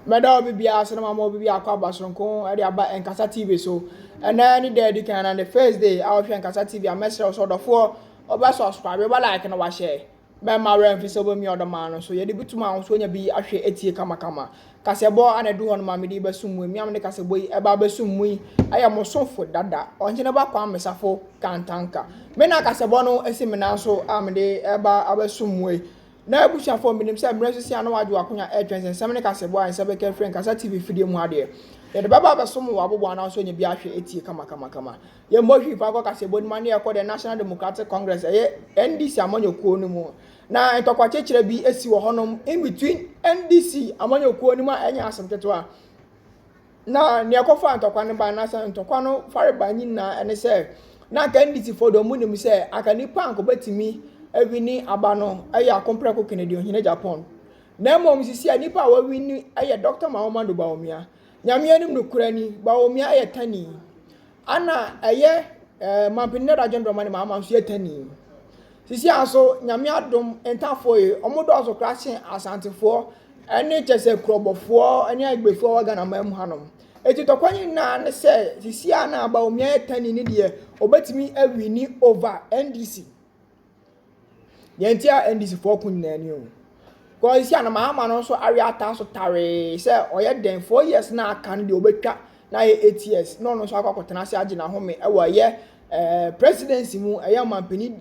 Mɛda obi biara so na mama obi biako aba soronko de aba Nkasa TV so. Ɛnɛ ne da adi kan na ne first day a ɔhwɛ Nkasa TV a mɛsrɛ wo sɛ ɔdɔfoɔ ɔbɛ subscribe ɔbɛ like na wahyɛ. Mɛma werɛ mfi sɛ wobɛmia ɔdɔ maa no so. Yɛde bi tom ahosuo nya bi ahwɛ atie kamakama. Kasɛbɔ ana ɛdu hɔ no ma mede yi bɛsom mu. Mmea mede kasɛbɔ yi ɛba abɛsom mu yi ɛyɛ mo somfo dada Ɔhene ba Kwame Safo Kantanka. Me na kasɛbɔ no asi me nan so a mede ɛba abɛsom mu yi. N'abusuafoɔ, menim sɛ mmerɛ nso si a na wɔagye w'akonya retwɛn sɛ nsɛm ne kasɛɛbɔ a nsa bɛka afiri nkasa TV fidie mu adeɛ. Yɛde bɛba abɛsom wo abobow anaa nso nya bi ahwɛ atie kamakamakama. Yɛmmɔ hwii fa nkɔ kasɛɛbɔ no mu anaa yɛkɔ the National Democratic Congress, ɛyɛ NDC amanyɔkuo no mu na ntɔkwakyekyerɛ bi si wɔ hɔnom in between NDC amanyɔkuo no mu a ɛnyɛ asem ketewa. na nea ɛkɔfaa ntɔkwa no bae, na sɛ ntɔkwa no farebae nyinaa, ɛne sɛ, na anka NDCfoɔ deɛ wɔnim sɛ anka nnipa anka wɔbɛtumi awini aba no yɛ ako prɛko Kennedy ɔhene Japan. Na mmom sisi a nnipa a wɔawini yɛ Dr. Mahamudu Bawumia. Nyame anim nokorɛ ni, Bawumia yɛ tani. Ana ɛyɛ eh, mampini ne dadwen dɔma ne maama nso yɛtani. Sisi a nso, nyame adom, ntafoɔ yi, ɔmo dɔɔso koraa sen asantefoɔ ɛne kyɛ sɛ kurɔbɔfoɔ ɛne agbefoɔ wɔ Ghana man mu hanom. Eti tɔkwa ne nyinaa ne sɛ sisi a na Bawumia yɛ tani ne deɛ, ɔbɛtumi awini over NDC. Deɛ nti a NDC foɔ ko nyinaa ni o. Because sisi a na Mahama no nso awe ataa so tawee sɛ ɔyɛ dɛn four years na aka no deɛ ɔbɛtwa na ayɛ eight years na ɔno nso akɔ akɔtena ase agye n'ahome ɛwɔ ɛyɛ ɛɛ presidency mu ɛyɛ ɔmampanin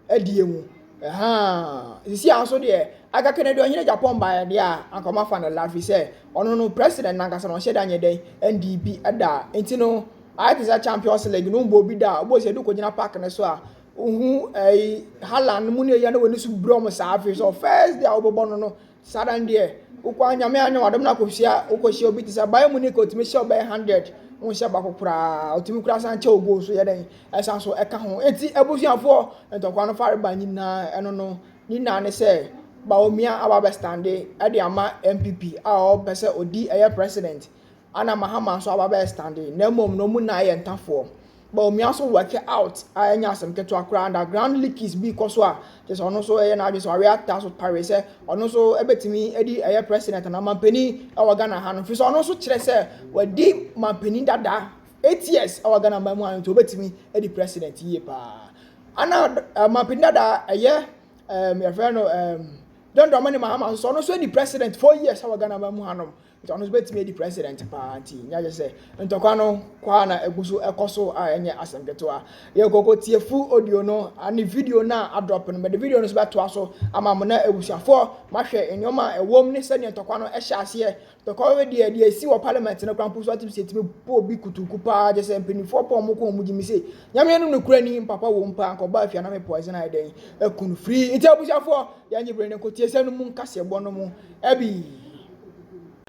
adie mu ɛhaa sisi a nso deɛ Aga Kennedy ɔhene Japan baeɛ deɛ a anka ɔmo afa no la fi sɛ ɔno no president nankasa na ɔhyɛ da nyɛ dɛn NDP ɛda nti no ayɛ te sɛ champions league no mbɔ obi da a obi sɛ ɛdu kɔgyina park no so a. Ohun ɛyi hala no mu na eya na w'ani so brɛ wɔn saa afei sɛ first day a wobɛbɔ no no saa da no deɛ wokɔ a nyame anyɛ w'adom na akɔhyia wokɔhyia obi te sɛ Bayern Munich ɔtumi hyɛ ɔbɛyɛ hundred wonhyɛ baako koraa ɔtumi koraa san kyɛ ogo so yɛ dɛn ɛsan so ɛka ho enti abusuafoɔ ntɔkwa no fare ba nyinaa ɛno no ne nyinaa ne sɛ Bawumia aba bɛstande ɛde ama MPP a ɔpɛ sɛ ɔdi ɛyɛ president ana Mahama nso aba bɛstande na mmom no ɔmu nyinaa yɛ ntafoɔ ma omia so workɛ out a ɛnyɛ asɛm ketewa koraa and ground leakage bi kɔ so a kyerɛ sɛ ɔno nso ɛyɛ n'adwene sɛ ɔwea ta so pare sɛ ɔno nso ɛbɛtumi ɛdi ɛyɛ president anaa mampanin ɛwɔ Ghana ha no fi sɛ ɔno nso kyerɛ sɛ wadi mampanin dada eight years ɛwɔ Ghana ma mu a nti ɔbɛtumi ɛdi president yie paa ana uh, mampanin dada ɛyɛ um, yɛfrɛ no um, John Dramani Mahama nso ɔno nso ɛdi president four years ɛwɔ Ghana ma mu ha no Nti ɔno nso bɛtumi adi president paa nti nyɛ agye sɛ ntɔkwa no kɔ a na ɛgu so ɛkɔ so a ɛnyɛ asɛm ketewa. Yɛ kɔkɔ tie full audio no ne video no a adrɔp no mɛde video no nso bɛtoa so ama mo na abusuafoɔ mahwɛ nneɛma a ɛwɔ mu ne sɛdeɛ ntɔkwa no ɛhyɛ aseɛ. Ntɔkwa no deɛ deɛ ɛsi wɔ parliament no kora mpo so atumi sɛ ɛtumi bɔ obi kutuku paa agye sɛ mpanimfoɔ pɔ wɔn ko wɔn gyimi sɛ nyame no nokora ni mpapa wɔ mu paa nkɔbɔ afia na me poison ayɛ dɛn akunu firi nti abusuafoɔ yɛnye bere ne nkotiesɛ no mu nkaseɛbɔ no mu ɛbi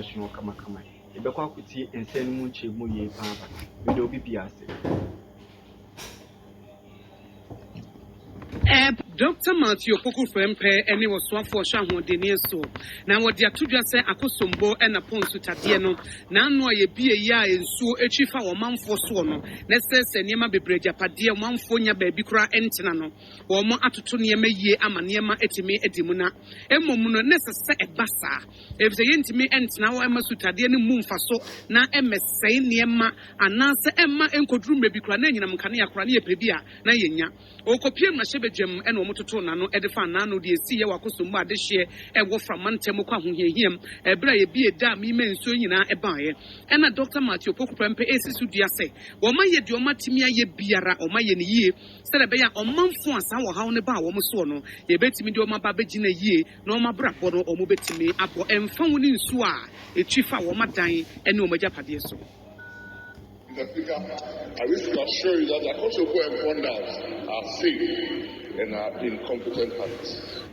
Ɛsono kamakama. Yɛbɛkɔ akɔtie nsɛm no mu nkyerɛmu yie pa ara. Meda obi biara ase. Ep. Dɔkta Matthew Opoku Frempeh ne Ɔsoafoɔ Ɔhwɛ Ahoɔdenneɛ soɔ na wɔde ato dwa sɛ Akosombo na Po Nsutadeɛ no n'ano a yɛbue yi a nsuo twi fa wɔ ɔmanfoɔ soɔ no na ɛsɛesɛe nneɛma bebree agyapadeɛ a ɔmanfoɔ nnya baabi koraa ntena no. Wɔatoto nneɛma yiye ama nneɛma atumi adi mu na mmom no, na ɛsɛ sɛ ɛba saa, efisɛ yentumi ntena hɔ mma sutadeɛ no mmu mfaso na ɛmmɛsɛe nneɛma anaasɛ ɛmma enkoduru mmere bi koraa na anyinam nkanea koraa ne yɛpɛ bi a na yennya. Ɔkɔpuee mmarahyɛbadwam na wɔtotoo n'ano de faa n'ano de esii Yehowa akosom mu adehyeɛ wɔ framma ntɛm mu kɔ ahohiahiam bere a ebi redaa meme nsuo nyinaa baeɛ. Ɛnna Dɔkta Matthew Opoku prɛmpɛ resi so dua sɛ, Wɔayɛ deɛ wɔatumi ayɛ biara, wɔayɛ no yiye. Sɛdeɛ ɛbɛyɛ a ɔmanfoɔ a saa ɔhaw no baa wɔn soɔ no, yɛbɛtumi de wɔn aba abɛgyina yie na wɔn abrabɔ no wɔn bɛtumi abɔ ɛmfa ho ne nsuo a ɛtwi fa wɔn adan ne wɔn agyapadeɛ so. The bigger I wish to assure you that Akosombo and Pondas are safe and are in competent hands.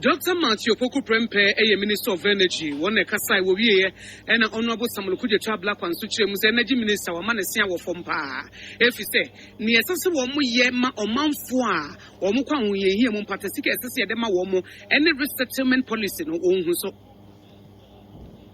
Doctor Matthew Opoku Prempeh yɛ Minister of Energy, wɔn na ɛkasae, wɔwieɛ na Honourable Samuel Okudzeto Ablakwa nso kyerɛɛ mu sɛ Energy Minister wama ne se awɔ fam paa efisɛ nea ɛsɛ sɛ wɔyɛ ma ɔmanfoɔ a wɔkɔ ahohiahia mu mpata sika a ɛsɛ sɛ yɛde ma wɔn ne Resettlement Policy no wɔnhu so.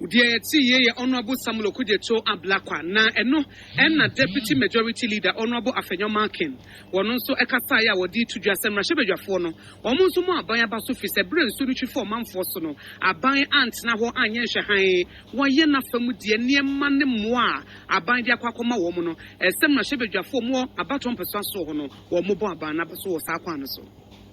Deɛ ɛte yie yɛ Honourable Samuel Okudzeto Ablakwa, na ɛno na Deputy Majority Leader Honourable Afenyo Markin, wɔn nso kasaeɛ a wɔde reto dwa sɛ mmarahyɛbadwafoɔ no, wɔn nso mu aban aba so firi sɛ berɛ a nsuo no twi faa ɔmanfoɔ so no, aban antena hɔ anyɛ nhwɛhan, wɔayɛ n'afa mu deɛ. Nneɛma ne mmoa a aban de akɔ akɔma wɔn no, ɛsɛ sɛ mmarahyɛbadwafoɔ a wɔwɔ abatoɔ mpɛsoa soɔ hɔ no, wɔbɔ aban no aba so wɔ saa kwan no so.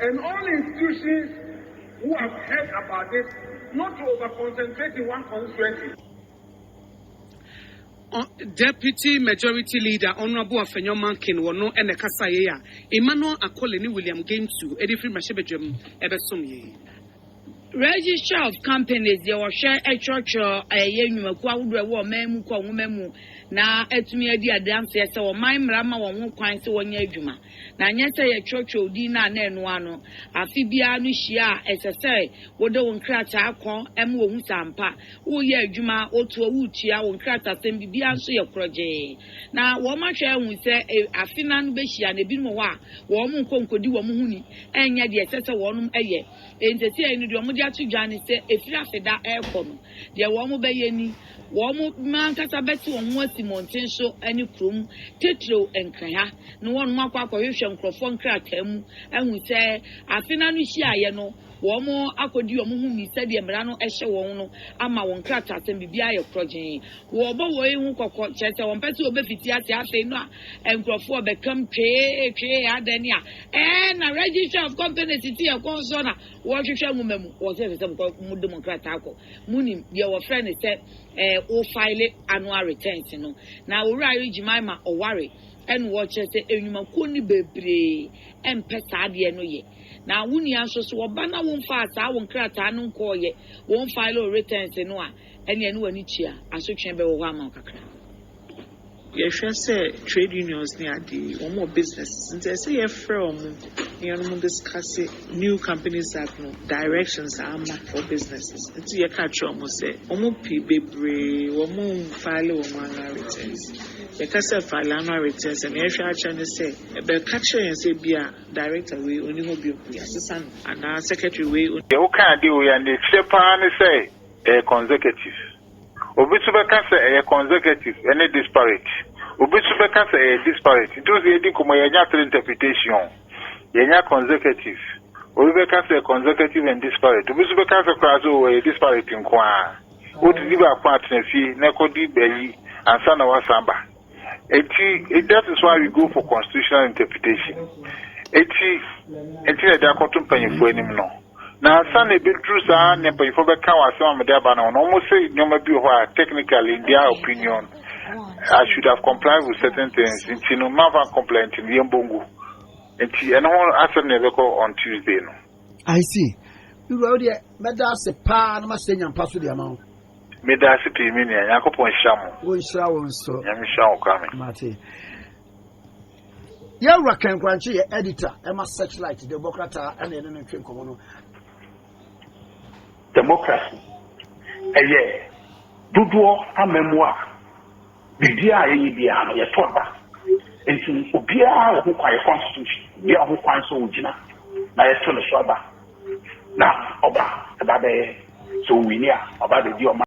And all institutions who have heard about this not to over concentrate in one constituency. Ɔn Deputy Majority Leader Honourable Afenyo Mankin wɔ no na ɛkasaeɛ a Emmanuel Akole ne William Gaintu de firi mmarahyɛbadwam bɛsomeeɛ. Registrar of Companies yɛ ɔhwɛ twerɛtwerɛ a ɛyɛ nnwumakuo ahodoɔ a ɛwɔ ɔman mu kɔ nwoma mu na atumi adi adanseɛ sɛ ɔman mmara ma wɔn ho kwan sɛ wɔnyɛ adwuma na nyɛ sɛ yɛtwerɛtwerɛ wo din no a na ɛnoa no afe biara no hyia a ɛsɛ sɛ wode wo nkrataa kɔ ma wɔhu sɛ ampa woreyɛ adwuma wotoɔ woretua wo nkratasɛm biribiara nso yɛ korɔgyee na wɔahwɛ ahu sɛ afe no ano bɛhyia no ebinom wɔ hɔ a wɔn nkɔ nkɔdi wɔn ho ni ɛnyɛ deɛ ɛsɛ sɛ wɔnom yɛ. Nseseɛi no deɛ wɔn de ato dwa ne sɛ ɛfiri afeda rekɔ no, deɛ wɔnom bɛyɛ ni, wɔnom ankasa bɛte wɔn ho asi mmɔnten so ne kurom titiriw Nkranha na wɔnom akɔ akɔhwehwɛ nkorɔfoɔ nkrataa mu ahu sɛ afe no ano hyiaeɛ no wɔnom akɔdi wɔn ho ni sɛdeɛ mmara no hyɛ wɔn no ama wɔn nkrataasɛm biribiara ayɛ korɔgyee. Wɔbɔ woi ho kɔkɔ kyerɛ sɛ wɔmpɛ sɛ wɔbɛfiti ase afei no a Nkurɔfoɔ bɛkam twee twee adɛn ni a ɛɛ na Registrar of Companies tete yɛ kɔn soɔ na wɔrehwehwɛ nwoma mu wɔ sɛ ɛsɛ sɛ mokɔ mo de mo nkrataa kɔ monim deɛ wɔfrɛ no sɛ ɛɛ wo file annual returns no na Owura Ayo Jemima ɔware ɛna wɔkyerɛ sɛ nnwumakuo no bebree ɛmpɛ saa adeɛ no yɛ na wo nua nso so ɔba na wo mfaa saa wo nkrataa no nkɔɔ yɛ wɔn file wo returns no a ɛne ɛne w'ani tua asotwee bɛwɔ hɔ ama wo kakra. Yɛhwɛ sɛ trade unions ne ade yi wɔn wɔ businesses nti ɛsɛ yɛfrɛ wɔn na yɛnom discuss new companies act no directions a ama for businesses nti yɛka kyerɛ wɔn sɛ wɔn pii bebree wɔn nfile wɔn annual returns yɛka sɛ file annual returns a nea yɛhwɛ akyerɛ ne sɛ ɛbɛka kyerɛ yɛn sɛ ebia director wei onni hɔ bio nti yɛasesa no anaa secretary wei Deɛ wokaa de o yɛ anekyerɛ paa ne sɛ ɛyɛ consecutive. Obi nso bɛka sɛ ɛyɛ consecutive ne disparate. Obi nso bɛka sɛ ɛyɛ disparate. Nti wo sɛ yɛdi nkɔmmɔ yi a, yɛnya three interpretation. Yɛnya consecutive, obi bɛka sɛ consecutive and disparate. Obi nso bɛka sɛ koraa sɛ oh, ɛyɛ disparate nko ara. Wotumi di baako atena fie na ɛkɔdi ayi ansa na woasan aba. Eti that is why we go for constitutional interpretation. Eti eti na ɛde akɔto mpanyinfoɔ anim no. Na ansa na ebeduru saa na mpanyinfoɔ bɛka wɔ asɛm a mede aba no ho no, wɔn se nneɛma bi wɔ hɔ a technically in their opinion I should have complied with certain things nti no mmafa nkomply nti no yɛn bongu. Nti ɛno ho asɛm na ɛbɛkɔ on Tuesday no. I see. Me wura wo deɛ mɛda ase paa na mahyɛ nya mpa so de ama wo. Meda ase pii me nua. Nyankopɔn nhyira mo. Wo nhyira wo nso. Nyame nhyira wo Kwame. Mate. Yɛ wura Ken Korankye yɛ editor ɛma Searchlight de bɔ krataa ɛna ɛne no ntwe nkɔmɔ no. Democracy ɛyɛ dodoɔ amammuo a Biribiara a yɛyɛ biara no, yɛtɔ da. Enti obiara wɔ ho kwan, yɛ constitution, obiara wɔ ho kwan sɛ ogyina na yɛto ne so aba. Na ɔba, ɛba bɛyɛ, sɛ owini a, ɔba abedi ɔman.